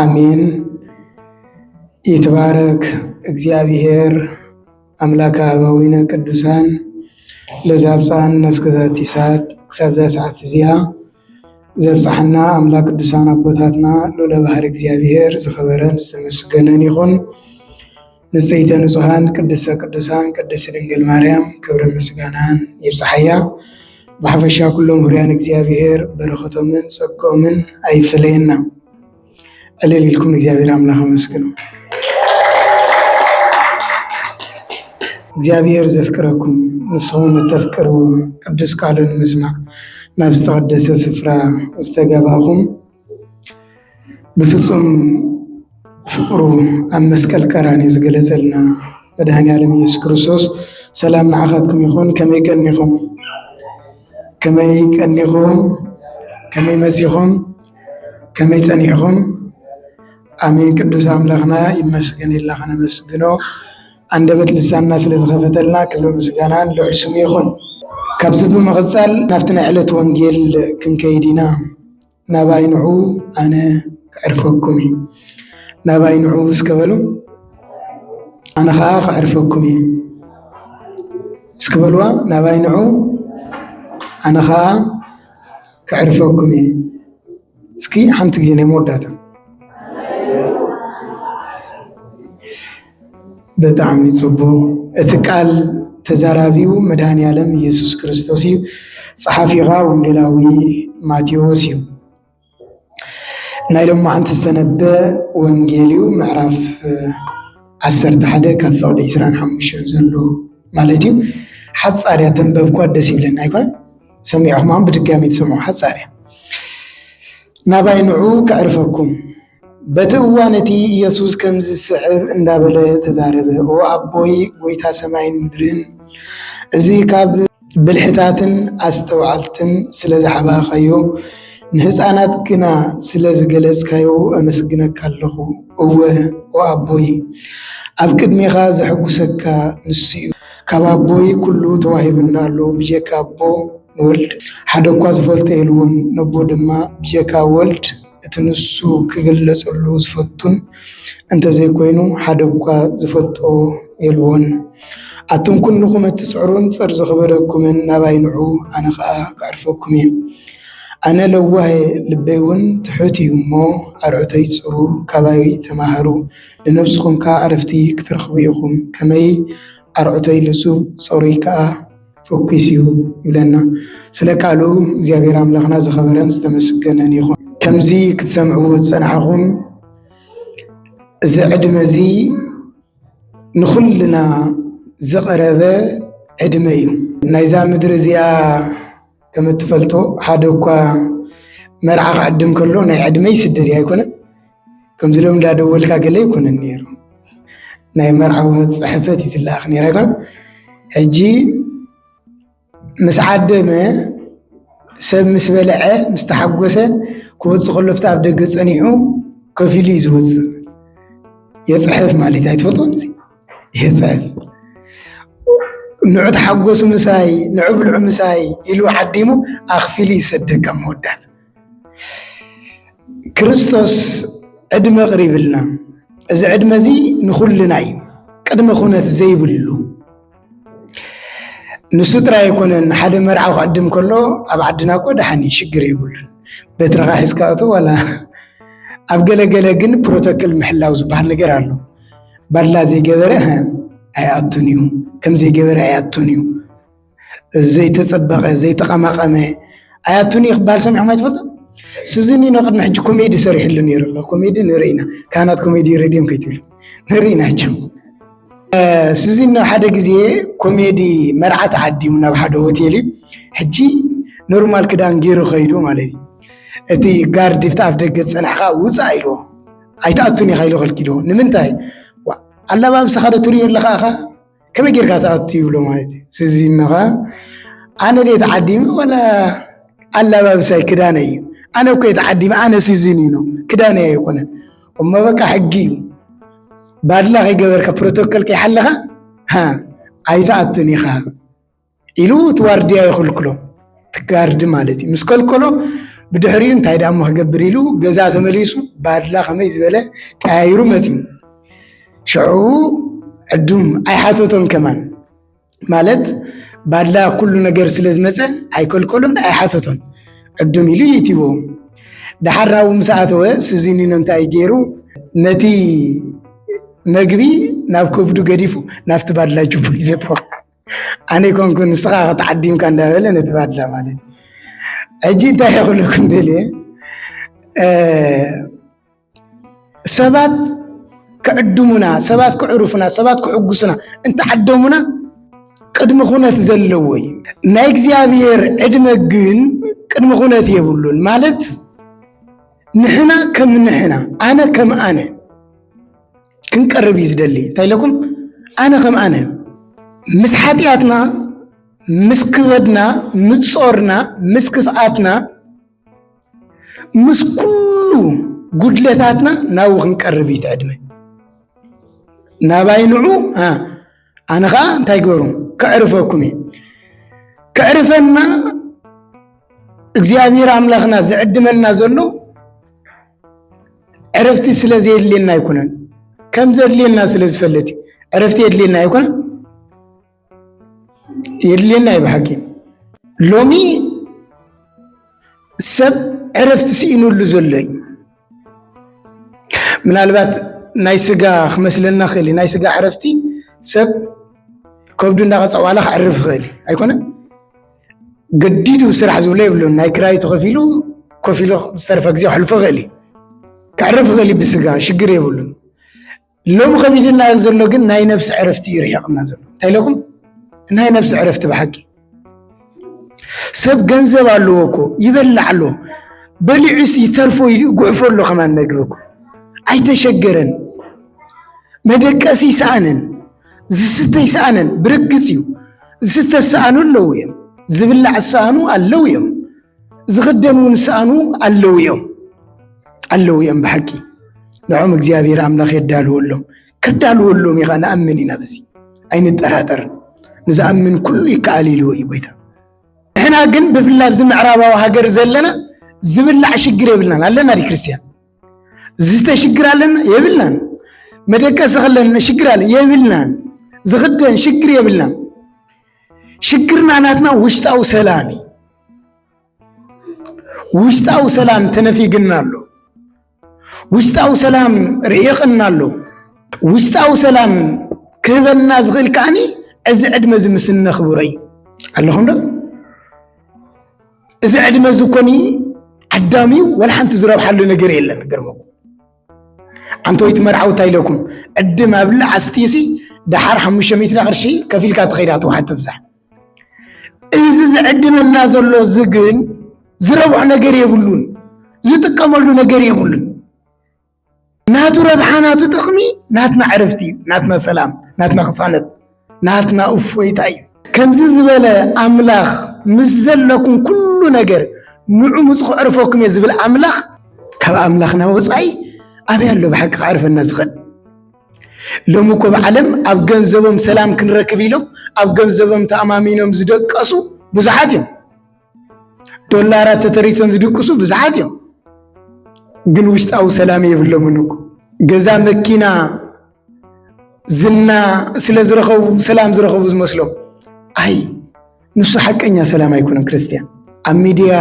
ኣሜን ይትባረክ እግዚኣብሔር ኣምላከ ኣበዊነ ቅዱሳን ለዚ ኣብፀሐና እስከ ዛቲ ሰዓት ክሳብ እዛ ሰዓት እዚኣ ዘብፀሐና ኣምላክ ቅዱሳን ኣቦታትና ልዑለ ባህሪ እግዚኣብሔር ዝኸበረን ዝተመስገነን ይኹን። ንጽህተ ንጹሃን ቅድስተ ቅዱሳን ቅድስት ድንግል ማርያም ክብርን ምስጋናን ይብጽሓያ። ብሓፈሻ ኩሎም ህሩያን እግዚኣብሔር በረኸቶምን ጸግኦምን ኣይፈለየና። ዕልል ኢልኩም እግዚኣብሔር ኣምላኽ ኣመስግኑ። እግዚኣብሔር ዘፍቅረኩም ንስኹም እተፍቅርዎ ቅዱስ ቃሉን ምስማዕ ናብ ዝተቐደሰ ስፍራ ዝተጋባኹም ብፍፁም ፍቅሩ ኣብ መስቀል ቀራንዮ ዝገለፀልና መድኃኔዓለም ኢየሱስ ክርስቶስ ሰላም ንዓኻትኩም ይኹን። ከመይ ቀኒኹም? ከመይ ቀኒኹም? ከመይ መሲኹም? ከመይ ጸኒዕኹም? ኣሜን። ቅዱስ ኣምላኽና ይመስገን ኢልና ከነመስግኖ ኣንደበት ልሳንና ስለ ዝኸፈተልና ክብሪ ምስጋናን ልዑል ስሙ ይኹን። ካብዚ ብምቕጻል ናብቲ ናይ ዕለት ወንጌል ክንከይድ ኢና። ናባይ ንዑ ኣነ ከዕርፈኩም እዩ ናባይ ንዑ እስከ በሉ ኣነ ከዓ ከዕርፈኩም እዩ እስኪ በልዋ ናባይ ንዑ ኣነ ከዓ ከዕርፈኩም እዩ እስኪ ሓንቲ ግዜ ናይ መወዳእታ ብጣዕሚ ጽቡቕ እቲ ቃል ተዛራቢኡ መድኃኔዓለም ኢየሱስ ክርስቶስ እዩ። ጸሓፊ ኸኣ ወንጌላዊ ማቴዎስ እዩ። ናይ ሎማዓንቲ ዝተነበ ወንጌል እዩ ምዕራፍ ዓሰርተ ሓደ ካብ ፍቕዲ ዕስራን ሓሙሽተን ዘሎ ማለት እዩ። ሓጻር እያ ተንበብኳ ደስ ይብለኒ ኣይኮን ሰሚዕኹማ ብድጋሚ ትሰምዑ ሓጻር እያ። ናባይ ንዑ ከዕርፈኩም በቲ እዋን እቲ ኢየሱስ ከምዚ ዝስዕብ እንዳበለ ተዛረበ፣ ኦ ኣቦይ ጐይታ ሰማይን ምድርን፣ እዚ ኻብ ብልሕታትን ኣስተውዓልትን ስለ ዝሓባእካዮ፣ ንህፃናት ግና ስለ ዝገለፅካዮ ኣመስግነካ ኣለኹ። እወ፣ ኦ ኣቦይ፣ ኣብ ቅድሜኻ ዘሐጕሰካ ንሱ እዩ። ካብ ኣቦይ ኵሉ ተዋሂቡኒ ኣሎ፣ ብጀካ ኣቦ ንወልድ ሓደኳ ዝፈልጦ የልቦን፣ ነቦ ድማ ብጀካ ወልድ፣ እቲ ንሱ ክግለጸሉ ዝፈቱን እንተዘይኮይኑ ሓደ እኳ ዝፈልጦ የልቦን። ኣቱም ኩሉኹም እትጽዕሩን ጸር ዝኽበደኩምን ናባይ ንዑ ኣነ ኸኣ ከዕርፈኩም እየ። ኣነ ለዋህ እየ ልበይ እውን ትሑት እዩ እሞ ኣርዑተይ ጽሩ ካባይ ተማሃሩ ንነብስኹም ከኣ ዕረፍቲ ክትረኽቡ ኢኹም። ከመይ ኣርዑተይ ልዙብ ጸሩይ ከኣ። ፈኲስ እዩ ይብለና። ስለ ቃሉ እግዚኣብሔር ኣምላኽና ዝኸበረን ዝተመስገነን ይኹን። ከምዚ ክትሰምዕዎ ዝጸናሕኹም እዚ ዕድመ እዚ ንኹልና ዝቐረበ ዕድመ እዩ። ናይዛ ምድሪ እዚኣ ከም እትፈልጦ ሓደ እኳ መርዓ ክዕድም ከሎ ናይ ዕድመ ይስደድ እዩ ኣይኮነን። ከምዚ ሎም እንዳደወልካ ገለ ኣይኮነን ነይሩ ናይ መርዓዊ ፅሕፈት እዩ ዝለኣኽ ነይረካ ሕጂ ምስ ዓደመ ሰብ ምስ በልዐ ምስ ተሓጎሰ ክወፅእ ከሎ ኣብቲ ኣብ ደገ ፀኒሑ ከፍ ኢሉ እዩ ዝወፅእ የፅሕፍ ማለት እዩ ኣይትፈልጦን እዚ የፅሕፍ ንዑ ተሓጎሱ ምሳይ ንዑ ብልዑ ምሳይ ኢሉ ዓዲሙ ኣኽፊሉ ይሰደካ መወዳእታ ክርስቶስ ዕድመ ቅሪብልና እዚ ዕድመ እዚ ንኹልና እዩ ቅድመ ኩነት ዘይብሉ ንሱ ጥራይ ኣይኮነን ሓደ መርዓ ክዕድም ከሎ ኣብ ዓድና እኮ ደሓን እዩ ሽግር የብሉን በትርኻ ሒዝካ እቶ ዋላ ኣብ ገለገለ ግን ፕሮቶኮል ምሕላው ዝበሃል ነገር ኣሎ ባድላ ዘይገበረ ኣይኣቱን እዩ ከም ዘይገበረ ኣይኣቱን እዩ እዚ ዘይተፀበቐ ዘይተቐማቐመ ኣያቱኒ ክበሃል ሰሚዕኩም ኣይትፈልጡ ስዚኒ ኖ ቅድሚ ሕጂ ኮሜዲ ሰሪሕሉ ነይሩ ኮሜዲ ንርኢ ኢና ካህናት ኮሜዲ ሬድዮም ከይትብሉ ንርኢ ኢና ሕጂ ስዚኖ ሓደ ግዜ ኮሜዲ መርዓ ተዓዲሙ ናብ ሓደ ሆቴል እዩ ሕጂ ኖርማል ክዳን ገይሩ ከይዱ ማለት እዩ እቲ ጋርድ ፍቲ ኣፍ ደገ ፀናሕካ ውፃእ ኢልዎ ኣይትኣቱን ኢኻ ኢሉ ከልኪልዎ ንምንታይ ኣለባብሰኻ ዶ ትርእዮ ኣለኻ ኢኻ ከመይ ጌርካ ትኣቱ ይብሎ ማለት እዩ ስዚ እነኻ ኣነ ደ ተዓዲመ ዋላ ኣላባብሳይ ክዳነ እዩ ኣነ እኮ ተዓዲመ ኣነ ስዚን እዩ ክዳነ ኣይኮነን እሞ በቃ ሕጊ እዩ ባድላ ከይገበርካ ፕሮቶኮል ከይሓለኻ ኣይትኣቱን ኢኻ ኢሉ እቲ ዋርድያ ይኽልክሎ ትጋርዲ ማለት እዩ ምስ ከልከሎ ብድሕሪኡ እንታይ ደኣ እሞ ክገብር ኢሉ ገዛ ተመሊሱ ባድላ ከመይ ዝበለ ቀያይሩ መፅዩ ሽዑ ዕዱም ኣይሓተቶን ከማን ማለት ባድላ ኩሉ ነገር ስለ ዝመፀ ኣይከልከሎን ኣይሓተቶን ዕዱም ኢሉ ይእትዎ ደሓር ኣብኡ ምስ ኣተወ ስዚኒኖ እንታይ ገይሩ ነቲ መግቢ ናብ ከብዱ ገዲፉ ናብቲ ባድላ ጅቡ ይዘተወ ኣነ ይኮንኩ ንስኻ ከተዓዲምካ እንዳበለ ነቲ ባድላ ማለት ሕጂ እንታይ ክብለኩም ደልየ ሰባት ክዕድሙና ሰባት ክዕርፉና ሰባት ክሕጉሱና እንተዓደሙና ቅድሚ ኩነት ዘለዎ እዩ ናይ እግዚኣብሔር ዕድመ ግን ቅድሚ ኩነት የብሉን ማለት ንሕና ከም ንሕና ኣነ ከም ኣነ ክንቀርብ እዩ ዝደሊ እንታይ ኢለኩም ኣነ ከም ኣነ ምስ ሓጢኣትና ምስ ክበድና ምስ ጾርና ምስ ክፍኣትና ምስ ኩሉ ጉድለታትና ናብኡ ክንቀርብ እዩ ትዕድመ ናባይ ንዑ ኣነ ከዓ እንታይ ገሩ ከዕርፈኩም እየ ከዕርፈና እግዚኣብሔር ኣምላኽና ዝዕድመና ዘሎ ዕረፍቲ ስለ ዘየድልየና ኣይኮነን ከም ዘድልየና ስለ ዝፈለጥ ዕረፍቲ የድልየና ኣይኮነ የድልየና እዩ ብሓቂ ሎሚ ሰብ ዕረፍቲ ስኢኑሉ ዘሎ እዩ ምናልባት ናይ ስጋ ክመስለና ክእል እዩ ናይ ስጋ ዕረፍቲ ሰብ ከብዱ እንዳቐፀ ዋላ ክዕርፍ ይኽእል እዩ ኣይኮነን ገዲዱ ስራሕ ዝብሎ የብሉን ናይ ክራይ ተኸፊሉ ኮፍ ኢሉ ዝተረፈ ግዜ ክሕልፎ ይኽእል እዩ ክዕርፍ ይኽእል እዩ ብስጋ ሽግር የብሉን ሎሚ ከቢድና ዘሎ ግን ናይ ነብሲ ዕረፍቲ እዩ ርሒቕና ዘሎ እንታይ ኢለኩም ናይ ነብሲ ዕረፍቲ ብሓቂ ሰብ ገንዘብ ኣለዎ እኮ ይበላዕ ኣሎ በሊዑስ ይተርፎ ጉዕፎ ኣሎ ከማን መግቢ እኮ ኣይተሸገረን መደቀሲ ይሰኣንን ዝስተ ይሰኣንን ብርግፅ እዩ ዝስተ ዝሰኣኑ ኣለዉ እዮም ዝብላዕ ዝሰኣኑ ኣለዉ እዮም ዝኽደን እውን ሰኣኑ ኣለዉ እዮም ኣለዉ እዮም ብሓቂ ንዖም እግዚኣብሔር ኣምላኽ የዳልወሎም ክዳልወሎም ኢኻ ንኣምን ኢና በዚ ኣይንጠራጠርን ንዝኣምን ኩሉ ይከኣል ኢልዎ እዩ ጎይታ ንሕና ግን ብፍላይ ኣብዚ ምዕራባዊ ሃገር ዘለና ዝብላዕ ሽግር የብልናን ኣለና ዲ ክርስትያን ዝስተ ሽግር ኣለና የብልናን መደቀሲ ከለና ሽግር ኣለ የብልናን ዝኽደን ሽግር የብልናን ሽግርና ናትና ውሽጣዊ ሰላም እዩ። ውሽጣዊ ሰላም ተነፊግና ኣሎ። ውሽጣዊ ሰላም ርሒቕና ኣሎ። ውሽጣዊ ሰላም ክህበና ዝኽእል ከዓኒ እዚ ዕድመ እዚ ምስ እነኽብሮ እዩ። ኣለኹም ዶ? እዚ ዕድመ እዚ ኮኒ ዓዳሚ ወላ ሓንቲ ዝረብሓሉ ነገር የለን። ግርምኩም ኣንተ ወይቲ መርዓዊ እንታይ ኢለኩም ዕድም ኣብላ ኣስትዩሲ ደሓር ሓሙሽተ ሚእቲ ቅርሺ ከፊልካ ትኸይዳ ትውሓት ትብዛሕ እዚ ዝዕድመና ዘሎ እዚ ግን ዝረብሖ ነገር የብሉን ዝጥቀመሉ ነገር የብሉን ናቱ ረብሓ ናቱ ጥቕሚ ናትና ዕረፍቲ እዩ ናትና ሰላም ናትና ቅሳነት ናትና እፎይታ እዩ። ከምዚ ዝበለ ኣምላኽ ምስ ዘለኩም ኩሉ ነገር ንዑ ምፅ ክዕርፈኩም እየ ዝብል ኣምላኽ ካብ ኣምላኽና ወፃኢ ኣበይ ኣሎ ብሓቂ ክዕርፈና ዝኽእል? ሎሚ እኮ ብዓለም ኣብ ገንዘቦም ሰላም ክንረክብ ኢሎም ኣብ ገንዘቦም ተኣማሚኖም ዝደቀሱ ብዙሓት እዮም። ዶላራት ተተሪሶም ዝድቅሱ ብዙሓት እዮም፣ ግን ውሽጣዊ ሰላም የብሎምን እኮ ገዛ መኪና ዝና ስለ ዝረኸቡ ሰላም ዝረኸቡ ዝመስሎም ኣይ ንሱ ሓቀኛ ሰላም ኣይኮነን። ክርስትያን ኣብ ሚድያ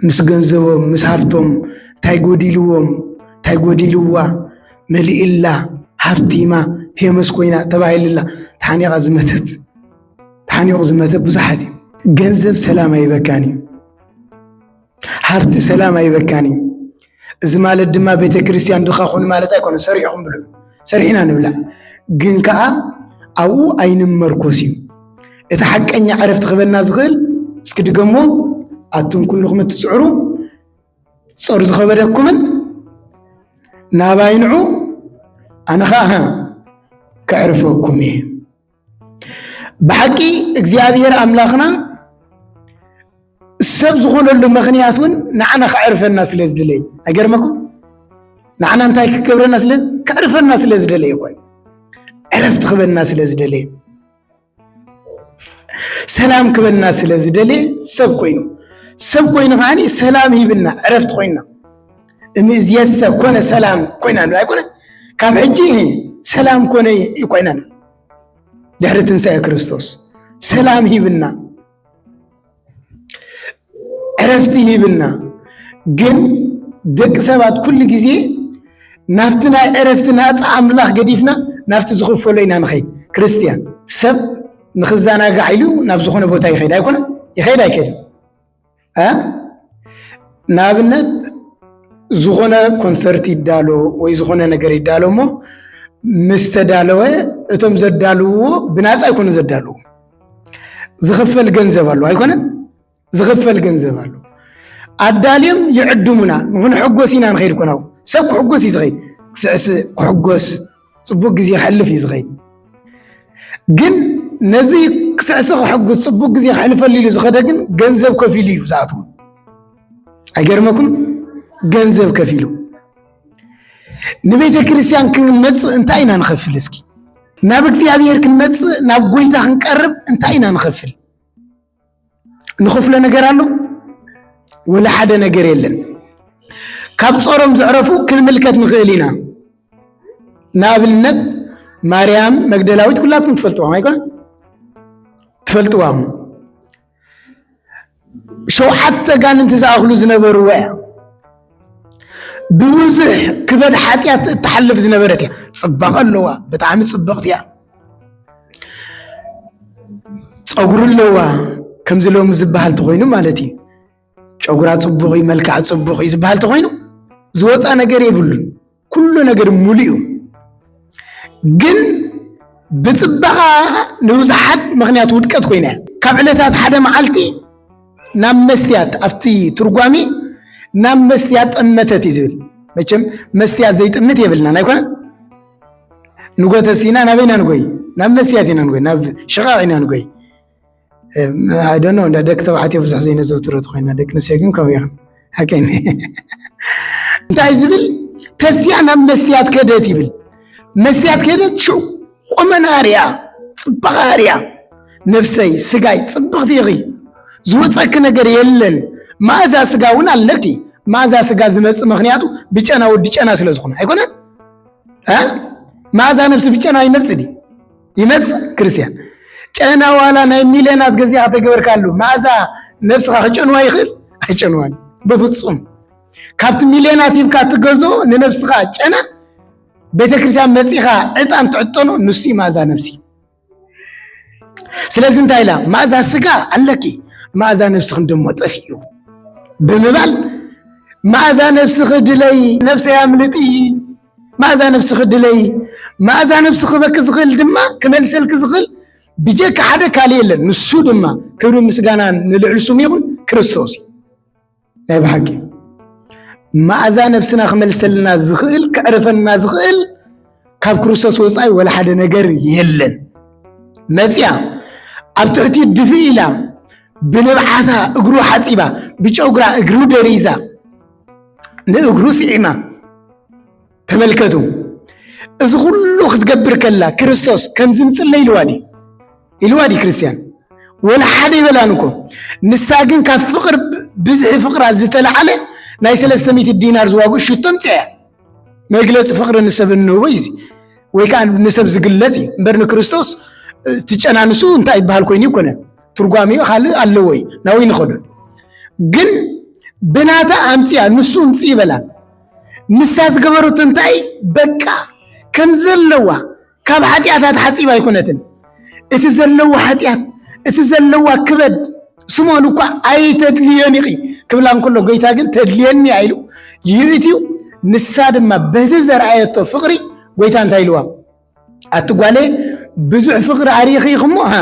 ምስ ገንዘቦም ምስ ሃብቶም እንታይ ጎዲልዎም እንታይ ጎዲልዋ መሊእላ ሃብቲማ ፌመስ ኮይና ተባሂልላ ተሓኒቓ ዝመተት ተሓኒቑ ዝመተ ብዙሓት እዩ። ገንዘብ ሰላም ኣይበካን እዩ። ሃብቲ ሰላም ኣይበካን እዩ። እዚ ማለት ድማ ቤተ ክርስቲያን ድኻ ኹን ማለት ኣይኮነ ሰሪዕኹም ብሉ ሰሪሕና ንብላዕ ግን ከዓ ኣብኡ ኣይንመርኮስ እዩ እቲ ሓቀኛ ዕረፍቲ ክበና ዝኽእል እስኪ ድገሞ ኣቱም ኩልኹም እትፅዕሩ ጾር ዝኸበደኩምን ናባይ ንዑ ኣነ ከዓ ከዕርፈኩም እየ ብሓቂ እግዚኣብሔር ኣምላኽና ሰብ ዝኾነሉ ምኽንያት እውን ንዓና ከዕርፈና ስለ ዝደለይ ኣይገርመኩም ንዓና እንታይ ክገብረና ስለ ከዕርፈና ስለ ዝደለየ ኮይ ዕረፍቲ ክበና ስለ ዝደለየ ሰላም ክበና ስለ ዝደለየ ሰብ ኮይኑ ሰብ ኮይኑ ከዓኒ ሰላም ሂብና ዕረፍቲ ኮይና እምይእዜሰ ኮነ ሰላም ኮይና ንብል ኣይኮነ ካብ ሕጂ ሰላም ኮነ ኮይና ንብል ድሕሪ ትንሳኤ ክርስቶስ ሰላም ሂብና ዕረፍቲ ሂብና ግን ደቂ ሰባት ኩሉ ግዜ ናብቲ ናይ ዕረፍቲ ናፃ ኣምላኽ ገዲፍና ናብቲ ዝኽፈሎ ኢና ንኸይድ ክርስትያን ሰብ ንክዘናጋዕ ኢሉ ናብ ዝኾነ ቦታ ይኸይድ ኣይኮነ ይኸይድ ኣይከይድን ንኣብነት ዝኾነ ኮንሰርት ይዳሎ ወይ ዝኾነ ነገር ይዳሎ እሞ ምስ ተዳለወ እቶም ዘዳልውዎ ብናፃ ኣይኮነ ዘዳልዎ ዝኽፈል ገንዘብ ኣሎ ኣይኮነን ዝኽፈል ገንዘብ ኣሎ ኣዳልዮም ይዕድሙና ንክንሕጎስ ኢና ንኸይድ ኮናው ሰብ ክሕጎስ እዩ ዝኸይድ ክስዕስዕ ክሕጎስ ጽቡቅ ግዜ ክሕልፍ እዩ ዝኸይድ ግን ነዚ ክስዕሲ ክሕጉስ ጽቡቅ ግዜ ክሕልፈሉ ኢሉ ዝኸደ ግን ገንዘብ ከፊሉ እዩ ዝኣትዎ ኣይገርመኩም ገንዘብ ከፊሉ ንቤተ ክርስቲያን ክንመጽእ እንታይ ኢና ንኸፍል እስኪ ናብ እግዚኣብሔር ክንመጽእ ናብ ጎይታ ክንቀርብ እንታይ ኢና ንኸፍል ንኸፍሎ ነገር ኣሎ ወላ ሓደ ነገር የለን ካብ ጾሮም ዘዕረፉ ክንምልከት ንኽእል ኢና ንኣብነት ማርያም መግደላዊት ኩላትኩም ትፈልጥዋም ኣይኮነ ትፈልጥዋም ሸውዓተ ጋንንቲ ዝኣኽሉ ዝነበርዎ እያ ብብዙሕ ክበድ ሓጢኣት እትሓልፍ ዝነበረት እያ ፅባቐ ኣለዋ ብጣዕሚ ፅብቕቲ እያ ፀጉሪ ኣለዋ ከምዚ ሎሚ ዝበሃል ተኮይኑ ማለት እዩ ጨጉራ ፅቡቅ እዩ መልክዓ ፅቡቅ እዩ ዝበሃል ተኮይኑ ዝወፃ ነገር የብሉን ኩሉ ነገር ሙሉ እዩ ግን ብፅባቃ ንብዙሓት ምክንያት ውድቀት ኮይና እያ ካብ ዕለታት ሓደ መዓልቲ ናብ መስትያት ኣብቲ ትርጓሜ ናብ መስትያት ጠመተት እዩ ዝብል መቸም መስትያት ዘይጥምት የብልና ናይ ንጎተስ ኢና ናበይ ኢና ንጎይ ናብ መስያት ኢና ንጎይ ናብ ሽቓቕ ኢና ንጎይ ኣይደኖ እንዳ ደቂ ተባዕትዮ ብዙሕ ዘይነዘውትሮ ኮይና ደቂ ኣንስትዮ ግን ከምኡ ይኹን ሓቀይኒ እንታይ ዝብል ተስያ ናብ መስትያት ከደት ይብል መስትያት ከደት ሽዑ ቁመና ኣርያ ፅባቐ ኣርያ ነፍሰይ ስጋይ ፅብቕቲ ኢኺ ዝወፀኪ ነገር የለን መኣዛ ስጋ እውን ኣለኪ መኣዛ ስጋ ዝመፅእ ምክንያቱ ብጨና ወዲ ጨና ስለ ዝኾነ ኣይኮነን መዓዛ ነብሲ ብጨና ይመፅእ ድዩ ይመፅእ ክርስቲያን ጨና ዋላ ናይ ሚልዮን ኣብ ገዚኻ ተገበርካሉ መዓዛ ነብስኻ ክጨንዋ ይኽእል ኣይጨንዋን በፍፁም ካብቲ ሚልዮናት ሂብካ ትገዞ ንነብስኻ ጨና ቤተክርስትያን መፂኻ ዕጣን ትዕጠኖ ንሱ መዓዛ ነብሲ ስለዚ እንታይ ኢላ ማእዛ ስጋ ኣለኪ ማእዛ ነብስኽን ደሞ ጠፊኡ ብምባል ማእዛ ነብስኺ ድለይ ነብሰይ ኣምልጢ ማእዛ ነብስኺ ድለይ ማእዛ ነብሲ ክበኪ ዝኽእል ድማ ክመልሰልኪ ዝኽእል ብጀካ ሓደ ካልእ የለን ንሱ ድማ ክብሪ ምስጋና ንልዕሊ ስሙ ይኹን ክርስቶስ እዩ ናይ ብሓቂ መኣዛ ነፍስና ክመልሰልና ዝኽእል ከዕርፈና ዝኽእል ካብ ክርስቶስ ወፃኢ ወላ ሓደ ነገር የለን መፅያ ኣብ ትሕቲ ድፊ ኢላ ብንብዓታ እግሩ ሓፂባ ብጨጉራ እግሩ ደሪዛ ንእግሩ ስዒማ ተመልከቱ እዚ ኩሉ ክትገብር ከላ ክርስቶስ ከምዚ ምፅለ ኢልዋ ድዩ ኢልዋ ድዩ ክርስትያን ወላ ሓደ ይበላን እኮ ንሳ ግን ካብ ፍቅር ብዝሒ ፍቅራ ዝተለዓለ ናይ ሰለስተ ሚእቲ ዲናር ዝዋግኡ ሽቶ ምፅያ መግለፂ ፍቅሪ ንሰብ እንህቦ እዩ ወይ ከዓ ንሰብ ዝግለፅ እዩ እምበር ንክርስቶስ ትጨናንሱ እንታይ ይበሃል ኮይኑ ይኮነ ትርጓሜኡ ካልእ ኣለዎ እዩ ናብይ ንኸዱን ግን ብናታ ኣምፅያ ንሱ እምፅ ይበላን ንሳ ዝገበረቶ እንታይ በቃ ከም ዘለዋ ካብ ሓጢኣታ ተሓፂባ ኣይኮነትን እቲ ዘለዎ ሓጢኣት እቲ ዘለዋ ክበድ ስምኦን እኳ ኣይተድልዮን ኢኺ ክብላ እንከሎ ጎይታ ግን ተድልየኒ እያ ኢሉ ይእትዩ ንሳ ድማ በቲ ዘርኣየቶ ፍቕሪ ጎይታ እንታይ ኢልዋ ኣቲ ጓለ ብዙሕ ፍቕሪ ኣርኢኺ ኢኹሞ ሃ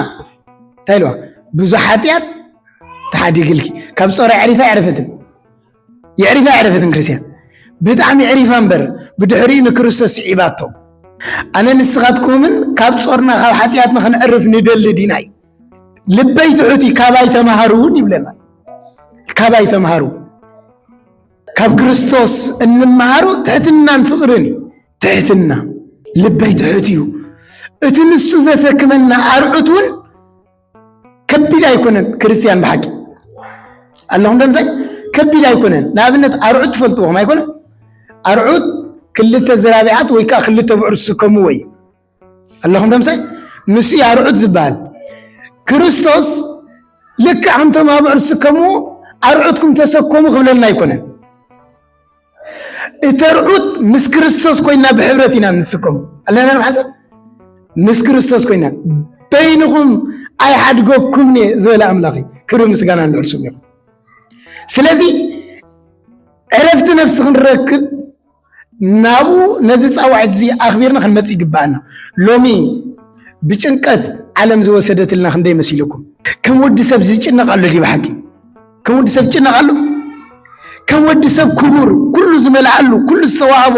እንታይ ኢልዋ ብዙሕ ሓጢኣት ተሓዲግልኪ ካብ ፀሮ ዕሪፋ ዕርፍትን የዕሪፋ ኣየዕረፈትን ክርስትያን ብጣዕሚ ዕሪፋ እምበር ብድሕሪኡ ንክርስቶስ ስዒባቶ ኣነ ንስኻትኩምን ካብ ጾርና ካብ ሓጢኣት ንክንዕርፍ ንደሊ ዲናይ ልበይ ትሑቲ ካባይ ተምሃሩ እውን ይብለና ካባይ ተምሃሩ ካብ ክርስቶስ እንምሃሮ ትሕትናን ፍቕርን እዩ ትሕትና ልበይ ትሑት እዩ እቲ ንሱ ዘሰክመና ኣርዑት እውን ከቢድ ኣይኮነን ክርስትያን ብሓቂ ኣለኹም ደምሳይ ከቢድ ኣይኮነን ንኣብነት ኣርዑት ትፈልጥዎም ኣይኮነ ኣርዑት ክልተ ዝራቢዓት ወይ ከዓ ክልተ ብዑር ዝስከሙ ወይ ኣለኹም ደምሳይ ንሱ ኣርዑት ዝበሃል ክርስቶስ ልክዕ ኣንቶም ኣብዑር ዝስከምዎ ኣርዑትኩም ተሰከሙ ክብለና ኣይኮነን እተርዑት ምስ ክርስቶስ ኮይና ብሕብረት ኢና ንስከሙ ኣለና ንሓሰብ ምስ ክርስቶስ ኮይና በይንኹም ኣይሓድገኩም እየ ዝበለ ኣምላኽ ክብሪ ምስጋና ንዕርሱ ይኹ ስለዚ ዕረፍቲ ነፍሲ ክንረክብ ናብኡ ነዚ ፃዋዕት እዚ ኣኽቢርና ክንመፅ ይግባኣና ሎሚ ብጭንቀት ዓለም ዝወሰደትልና ክንደይ መሲልኩም ከም ወዲ ሰብ ዝጭነቕ ኣሎ ዲብ ሓቂ ከም ወዲ ሰብ ጭነቐሉ ከም ወዲ ሰብ ክቡር ኩሉ ዝመልኣሉ ኩሉ ዝተዋህቦ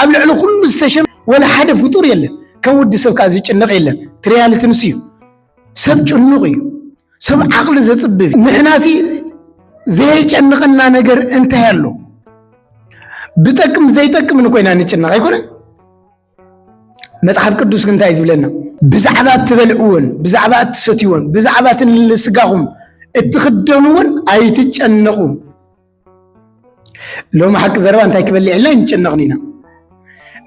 ኣብ ልዕሊ ኩሉ ዝተሸመ ወላ ሓደ ፍጡር የለን። ከም ወዲ ሰብ ከዓ ዝጭነቕ የለን። እቲ ሪያልቲ ንሱ እዩ። ሰብ ጭኑቕ እዩ። ሰብ ዓቕሊ ዘፅብብ እዩ። ንሕናሲ ዘየጨንቐና ነገር እንታይ ኣሎ? ብጠቅም ዘይጠቅምን ኮይና ንጭነቕ ኣይኮነን። መጽሓፍ ቅዱስ ግን እንታይ ዝብለና ብዛዕባ እትበልዕዎን ብዛዕባ እትሰትዎን ብዛዕባ እቲ ንስጋኹም እትኽደንዎን ኣይትጨነቑ ሎሚ ሓቂ ዘረባ እንታይ ክበልዕልና ይንጨነቕን ኢና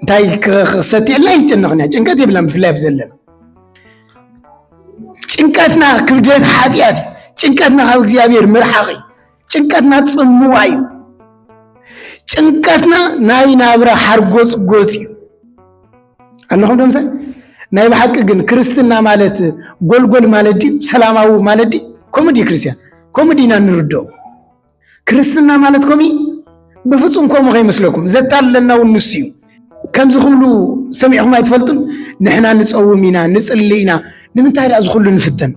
እንታይ ክሰትዕልና ይጨነቕን ኢና ጭንቀት የብላን ብፍላይ ኣብ ዘለና ጭንቀትና ክብደት ሓጢኣት እዩ ጭንቀትና ካብ እግዚኣብሔር ምርሓቕ እዩ ጭንቀትና ጽምዋ እዩ ጭንቀትና ናይ ናብራ ሓርጎጽ ጎጽ እዩ ኣለኹም ደምሰ ናይ ብሓቂ ግን ክርስትና ማለት ጎልጎል ማለት ድዩ ሰላማዊ ማለት ድዩ ከምኡ ድዩ ክርስትያን ከምኡ ድና ንርድኦ ክርስትና ማለት ኮሚ ብፍፁም ከምኡ ከይመስለኩም ዘታለና እውን ንሱ እዩ ከምዚ ክብሉ ሰሚዕኹም ኣይትፈልጡን ንሕና ንፀውም ኢና ንፅሊ ኢና ንምንታይ ዳ ዝኩሉ ንፍተን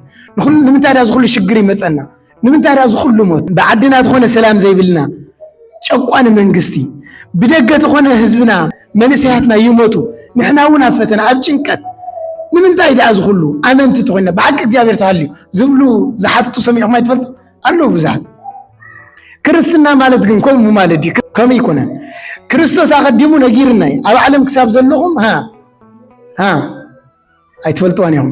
ንምንታይ ዳ ዝኩሉ ሽግር ይመፀና ንምንታይ ድኣ ዝኹሉ ሞት ብዓድና ዝኾነ ሰላም ዘይብልና ጨቋኒ መንግስቲ ብደገ ዝኾነ ህዝብና መንእሰያትና ይሞቱ ንሕና እውን ኣብ ፈተና ኣብ ጭንቀት ንምንታይ ድኣ ዝኹሉ ኣመንቲ ተኾይና ብሓቂ እግዚኣብሔር ተሃልዩ ዝብሉ ዝሓቱ ሰሚዕኹም ኣይትፈልጡ ኣለዉ ብዙሓት ክርስትና ማለት ግን ከምኡ ማለት ድዩ ከምኡ ይኮነን ክርስቶስ ኣቐዲሙ ነጊርና እዩ ኣብ ዓለም ክሳብ ዘለኹም ሃ ሃ ኣይትፈልጥዋን እዮም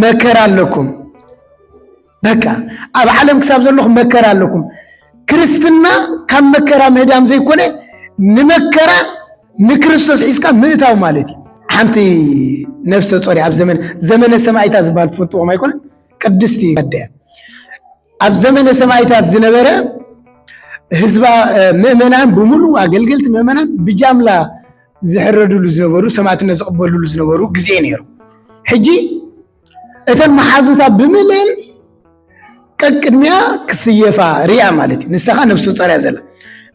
መከራ ኣለኩም በቃ ኣብ ዓለም ክሳብ ዘለኹም መከራ ኣለኩም ክርስትና ካብ መከራ ምህዳም ዘይኮነ ንመከራ ንክርስቶስ ሒዝካ ምእታው ማለት እዩ ሓንቲ ነፍሰ ጾሪ ኣብ ዘመን ዘመነ ሰማይታ ዝበሃል ትፈልጥዎም ኣይኮነ ቅድስቲ ከደያ ኣብ ዘመነ ሰማይታት ዝነበረ ህዝባ ምእመናን ብምሉ ኣገልገልቲ ምእመናን ብጃምላ ዝሕረድሉ ዝነበሩ ሰማዕትነት ዝቕበልሉ ዝነበሩ ግዜ ነይሩ። ሕጂ እተን መሓዙታ ብምልእን ቀቅድሚያ ክስየፋ ርያ ማለት እዩ። ንስኻ ነፍሰ ጾር እያ ዘላ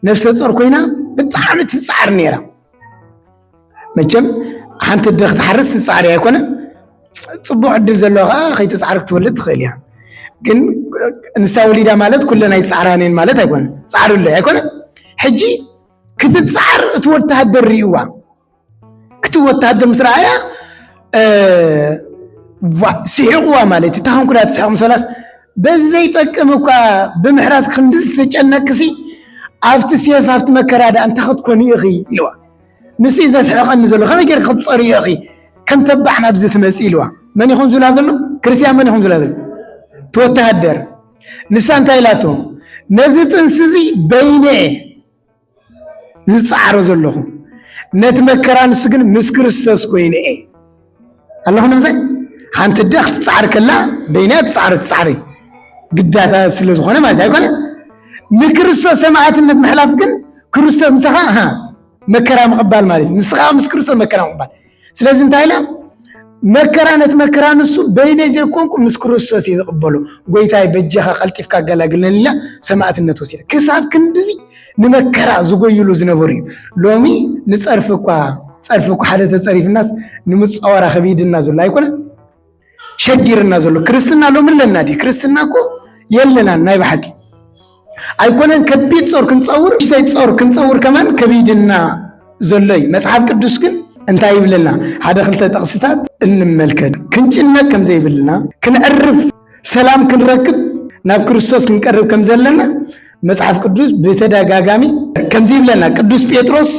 ነፍሰ ጾር ኮይና ብጣዕሚ ትጽዓር ነይራ። መቸም ሓንቲ ኣደ ክትሓርስ ትፃዕሪ ኣይኮነ ፅቡቅ ዕድል ዘለዎ ከዓ ከይትፃዕሪ ክትወልድ ትኽእል እያ ግን ንሳ ወሊዳ ማለት ኩለን ኣይፃዕራን እየን ማለት ኣይኮነ ፃዕሪ ኣሎ ኣይኮነ ሕጂ ክትፃዕር እቲ ወተሃደር ሪእዋ እቲ ወተሃደር ምስ ረኣያ ስሒቕዋ ማለት እታ ከንኩላ ትስሕቕ ምስ በላስ በዘይጠቅም እኳ ብምሕራስ ክንዲ ዝተጨነቅሲ ኣብቲ ሴፍ ኣብቲ መከራ ዳ እንታይ ክትኮኒ ኢኺ ኢልዋ ንስኢ ዘስሕቐኒ ዘሎ ከመይ ጌርኪ ክትፀርዮ ኢኺ ከም ተባዕ ናብዚ ትመፂ ኢልዋ መን ይኹን ዝብላ ዘሎ ክርስቲያን መን ይኹን ዝብላ ዘሎ እቲ ወተሃደር ንሳ እንታይ ኢላቶ ነዚ ጥንሲ እዚ በይነ ዝፀዓሮ ዘለኹ ነቲ መከራ ንሱ ግን ምስ ክርስቶስ ኮይነ እየ ኣለኹ ነብሰይ ሓንቲ ኣደ ክትፅዓር ከላ በይና ትፅዓር ትፅዓሪ ግዳታ ስለ ዝኾነ ማለት ኣይኮነ ንክርስቶስ ሰማዕትነት ምሕላፍ ግን ክርስቶስ ምሳኻ መከራ ምቕባል ማለት እዩ ንስኻ ምስ ክርስቶስ መከራ ምቕባል ስለዚ እንታይ ኢላ መከራ ነቲ መከራ ንሱ በይነይ ዘይኮንኩ ምስ ክርስቶስ እዩ ዝቕበሎ ጎይታይ በጀኻ ቀልጢፍካ ኣገላግለኒ ኢላ ሰማዕትነት ወሲዳ ክሳብ ክንድዚ ንመከራ ዝጎይሉ ዝነበሩ እዩ። ሎሚ ንፀርፊ እኳ ፀርፊ እኳ ሓደ ተፀሪፍናስ ንምፃወራ ከቢድና ዘሎ ኣይኮነ ሸጊርና ዘሎ ክርስትና ሎሚ ኣለና ድዩ? ክርስትና እኮ የለናን ናይ ብሓቂ ኣይኮነን ከቢድ ጾር ክንፀውር ሽተይ ጾር ክንፀውር ከማን ከቢድና ዘሎ እዩ። መፅሓፍ ቅዱስ ግን እንታይ ይብለና? ሓደ ክልተ ጠቕስታት እንመልከት ክንጭነቅ ከምዘይብልና ክንዕርፍ ሰላም ክንረክብ ናብ ክርስቶስ ክንቀርብ ከም ዘለና መጽሓፍ ቅዱስ ብተደጋጋሚ ከምዚ ይብለና። ቅዱስ ጴጥሮስ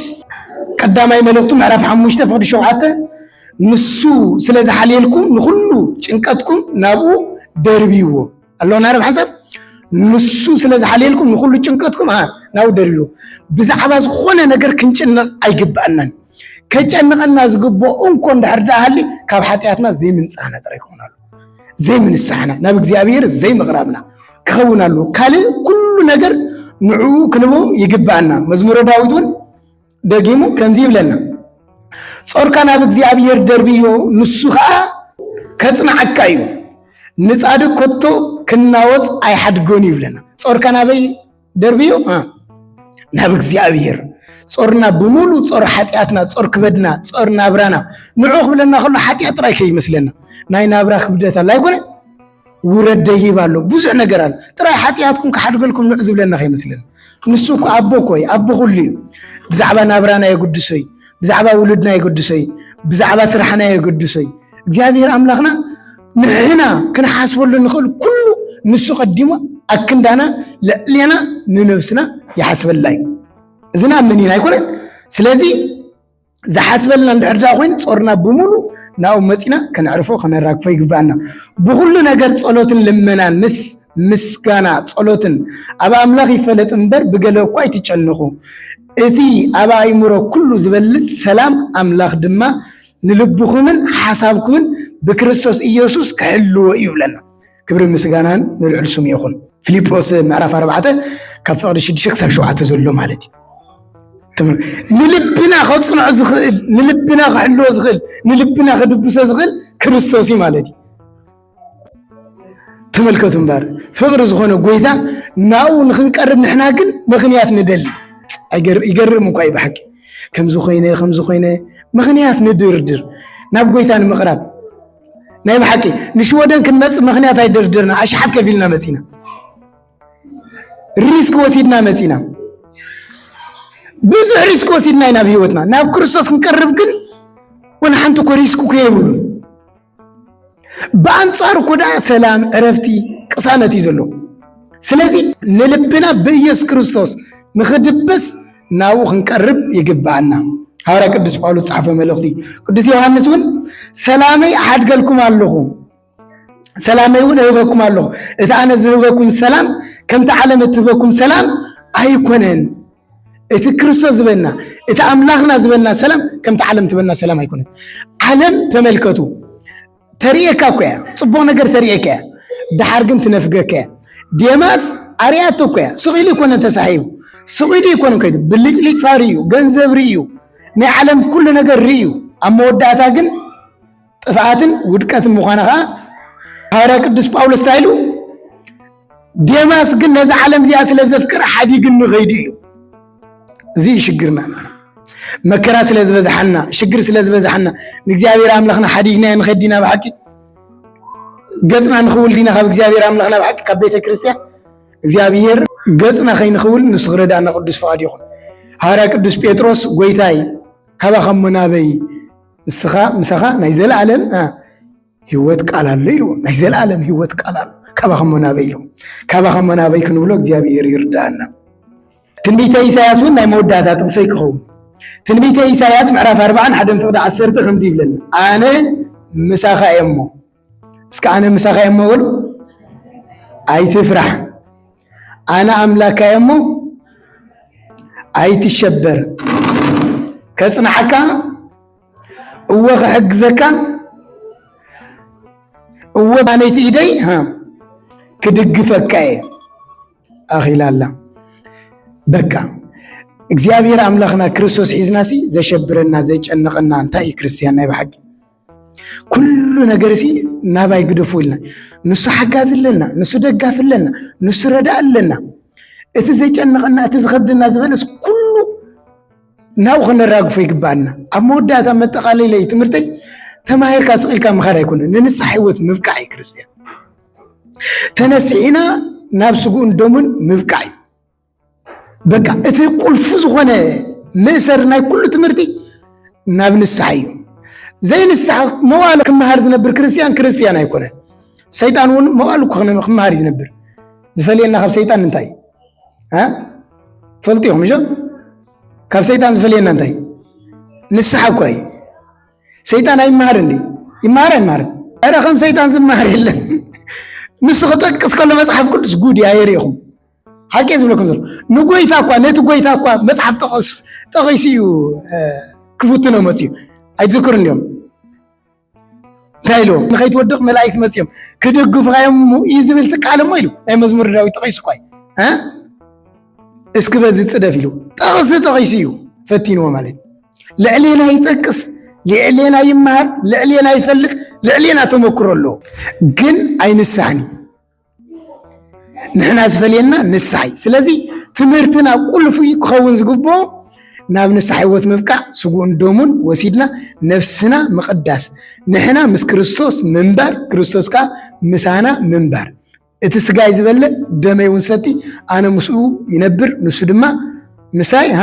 ቀዳማይ መልእኽቱ ምዕራፍ ሓሙሽተ ፍቕዲ ሸውዓተ ንሱ ስለ ዝሓልየልኩም ንኹሉ ጭንቀትኩም ናብኡ ደርብይዎ ኣለዎ ናረብ ሓሳብ ንሱ ስለ ዝሓልየልኩም ንኹሉ ጭንቀትኩም ናብኡ ደርብይዎ። ብዛዕባ ዝኾነ ነገር ክንጭነቕ ኣይግባእናን። ከጨንቐና ዝግብኦ እንኮ እንድሕር ደኣ ሃልዩ ካብ ሓጢኣትና ዘይምንጻህና ጥራይ ይኸውን ኣሎ። ዘይምንሳሕና ናብ እግዚኣብሔር ዘይምቕራብና ክኸውን ኣሉ ካልእ ኩሉ ነገር ንዕኡ ክንቦ ይግብኣና መዝሙረ ዳዊት እውን ደጊሙ ከምዚ ይብለና ጾርካ ናብ እግዚኣብሔር ደርብዮ ንሱ ከዓ ከጽንዓካ እዩ ንጻድቅ ኮቶ ክናወፅ ኣይሓድጎን ይብለና ጾርካ ናበይ ደርብዮ ናብ እግዚኣብሔር ጾርና ብምሉ ጾር ሓጢኣትና ጾር ክበድና ጾር ናብራና ንዑ ክብለና ከሎ ሓጢኣት ጥራይ ከይመስለና ናይ ናብራ ክብደት ኣላ ኣይኮነ ውረድ ደይብ ኣሎ ብዙሕ ነገር ኣሎ ጥራይ ሓጢኣትኩም ክሓድገልኩም ንዑ ዝብለና ከይመስለና ንሱ እኮ ኣቦ እኮ እዩ ኣቦ ኩሉ እዩ ብዛዕባ ናብራና የገድሶ እዩ ብዛዕባ ውሉድና የገድሶ እዩ ብዛዕባ ስራሕና የገድሶ እዩ እግዚኣብሔር ኣምላኽና ንሕና ክንሓስበሉ እንኽእል ኩሉ ንሱ ቀዲሙ ኣክንዳና ልዕሌና ንነብስና ይሓስበላ እዩ እዚ ንኣምን ኢና ኣይኮነን ስለዚ ዝሓስበልና እንድሕር ድኣ ኮይኑ ጾርና ብምሉ ናብኡ መፂና ከነዕርፎ ከነራግፎ ይግባኣና ብኩሉ ነገር ጸሎትን ልመናን ምስ ምስጋና ጸሎትን ኣብ ኣምላኽ ይፈለጥ እምበር ብገለ እኳ ኣይትጨንኹ እቲ ኣብ ኣእምሮ ኩሉ ዝበልጽ ሰላም ኣምላኽ ድማ ንልብኹምን ሓሳብኩምን ብክርስቶስ ኢየሱስ ክሕልዎ እዩ ይብለና። ክብሪ ምስጋናን ንልዑል ስሙ ይኹን። ፊልጶስ ምዕራፍ ኣርባዕተ ካብ ፍቕዲ ሽዱሽተ ክሳብ ሸውዓተ ዘሎ ማለት እዩ። ንልብና ከፅንዖ ዝኽእል ንልብና ክሕልዎ ዝኽእል ንልብና ክድብሶ ዝኽእል ክርስቶስ እዩ ማለት እዩ። ተመልከቱ እምበር ፍቕሪ ዝኾነ ጎይታ ናብኡ ንክንቀርብ ንሕና ግን ምኽንያት ንደሊ ይገርም እኳ እዩ ብሓቂ ከምዚ ኮይነ ከምዚ ኮይነ ምኽንያት ንድርድር ናብ ጎይታ ንምቕራብ ናይ ብሓቂ ንሽወደን ክንመፅእ ምኽንያት ኣይደርድርና ኣሽሓት ከፊልና መፂና ሪስክ ወሲድና መፂና ብዙሕ ሪስክ ወሲድና ኢና ብሂወትና ናብ ክርስቶስ ክንቀርብ ግን ወላ ሓንቲ እኮ ሪስክ እኮ የብሉን ብኣንጻሩ እኮ ደኣ ሰላም፣ ዕረፍቲ፣ ቅሳነት እዩ ዘሎ። ስለዚ ንልብና ብኢየሱስ ክርስቶስ ንኽድብስ ናብኡ ክንቀርብ ይግብኣና። ሃዋርያ ቅዱስ ጳውሎስ ዝጸሓፎ መልእኽቲ ቅዱስ ዮሃንስ እውን ሰላመይ ኣሓድገልኩም ኣለኹ ሰላመይ እውን እህበኩም ኣለኹ እቲ ኣነ ዝህበኩም ሰላም ከምቲ ዓለም እትህበኩም ሰላም ኣይኮነን እቲ ክርስቶስ ዝበና እቲ ኣምላኽና ዝበና ሰላም ከምቲ ዓለም ትበና ሰላም ኣይኮነት ዓለም ተመልከቱ ተርእየካ እኮ እያ ፅቡቅ ነገር ተርእየካ እያ ድሓር ግን ትነፍገካ እያ ዴማስ ኣርያቶ እኮ እያ ስቂሉ ይኮነ ተሳሒቡ ስቂሉ ይኮነ ከይዱ ብልጭልጭ ፋሪ እዩ ገንዘብ ርእዩ ናይ ዓለም ኩሉ ነገር ርእዩ ኣብ መወዳእታ ግን ጥፍኣትን ውድቀትን ምዃና ከዓ ሃዋርያ ቅዱስ ጳውሎስ እንታይ ኢሉ ዴማስ ግን ነዛ ዓለም እዚኣ ስለ ዘፍቅር ሓዲግኒ ኸይዱ እዩ እዚ እዩ ሽግርና መከራ ስለ ዝበዝሓና ሽግር ስለ ዝበዝሓና ንእግዚኣብሔር ኣምላኽና ሓዲግና ንኸዲና ብሓቂ ገፅና ንኽውል ዲና ካብ እግዚኣብሔር ኣምላኽና ብሓቂ ካብ ቤተ ክርስቲያን እግዚኣብሔር ገፅና ከይንኽውል ንሱ ክረዳእና ቅዱስ ፍቓድ ይኹን ሃዋርያ ቅዱስ ጴጥሮስ ጎይታይ ካባኸሞ ናበይ ንስኻ ምሳኻ ናይ ዘለኣለም ህይወት ቃል ኣሎ ኢልዎ ናይ ዘለኣለም ህይወት ቃል ኣሎ ካባኸ እሞ ናበይ ኢልዎ ካባኸ እሞ ናበይ ክንብሎ እግዚኣብሔር ይርዳኣና ትንቢተ ኢሳያስ እውን ናይ መወዳእታ ጥቕሰ ክኸውን ትንቢተ ኢሳያስ ምዕራፍ ኣርባዓን ሓደን ፍቕዲ ዓሰርተ ከምዚ ይብለና ኣነ ምሳኻ እየ እሞ እስከ ኣነ ምሳኻ እየ እሞ በሉ ኣይትፍራሕ፣ ኣነ ኣምላካ እየ እሞ ኣይትሸበር፣ ከጽንዓካ እወ ክሕግዘካ እወ ባነይቲ ኢደይ ክድግፈካ እየ ኣኺላ ኣላ በቃ እግዚኣብሔር ኣምላኽና ክርስቶስ ሒዝናሲ ዘሸብረና ዘጨንቐና እንታይ እዩ ክርስትያን ናይ ብሓቂ ኩሉ ነገር ሲ ናባይ ግደፉ ኢልና ንሱ ሓጋዚ ኣለና፣ ንሱ ደጋፊ ኣለና፣ ንሱ ረዳእ ኣለና። እቲ ዘጨንቐና እቲ ዝኸብደና ዝበለስ ኩሉ ናብኡ ከነራግፎ ይግባኣና። ኣብ መወዳእታ መጠቓለለይ ትምህርተይ ተማሂርካ ስቂልካ ምኻድ ኣይኮነ ንንስሓ ህይወት ምብቃዕ እዩ ክርስትያን ተነሲሒና ናብ ስጉኡን ደሙን ምብቃዕ እዩ። በቃ እቲ ቁልፉ ዝኾነ መእሰሪ ናይ ኩሉ ትምህርቲ ናብ ንስሓ እዩ ዘይንስሓ መዋሉ ክመሃር ዝነብር ክርስትያን ክርስትያን ኣይኮነን ሰይጣን እውን መዋሉ ክመሃር እዩ ዝነብር ዝፈልየና ካብ ሰይጣን እንታይ ፈልጡ ኢኹም እሾ ካብ ሰይጣን ዝፈልየና እንታይ ንስሓ እኳ እዩ ሰይጣን ኣይመሃር እንዲ ይመሃር ኣይመሃርን ኧረ ከም ሰይጣን ዝመሃር የለን ንሱ ክጠቅስ ከሎ መፅሓፍ ቅዱስ ጉድ ኣየር ኢኹም ሓቂ ዝብለኩም ዘሎ ንጎይታ እኳ ነቲ ጎይታ እኳ መፅሓፍ ጠቐስ ጠቒሱ እዩ ክፍትኖ መፅዩ ኣይትዝክሩን እዮም እንታይ ኢልዎም ንኸይትወድቕ መላእክት መፅዮም ክድግፉኻ እዮም እዩ ዝብል ትቃል እሞ ኢሉ ናይ መዝሙር ዳዊት ጠቒሱ እኳ እዩ እስኪ በዚ ፅደፍ ኢሉ ጠቕሲ ጠቒሱ እዩ ፈቲንዎ ማለት ልዕሌና ይጠቅስ ልዕሌና ይመሃር ልዕሌና ይፈልጥ ልዕሌና ተመክሮ ኣለዎ ግን ኣይንሳሕን እዩ ንሕና ዝፈልየና ንስሓ እዩ ስለዚ ትምህርትና ቁልፉ ክኸውን ዝግብኦ ናብ ንስሓ ህይወት ምብቃዕ ስጉኡን ደሙን ወሲድና ነፍስና ምቕዳስ ንሕና ምስ ክርስቶስ ምንባር ክርስቶስ ከዓ ምሳና ምንባር እቲ ስጋይ ዝበልዕ ደመይ እውን ሰቲ ኣነ ምስኡ ይነብር ንሱ ድማ ምሳይ ሃ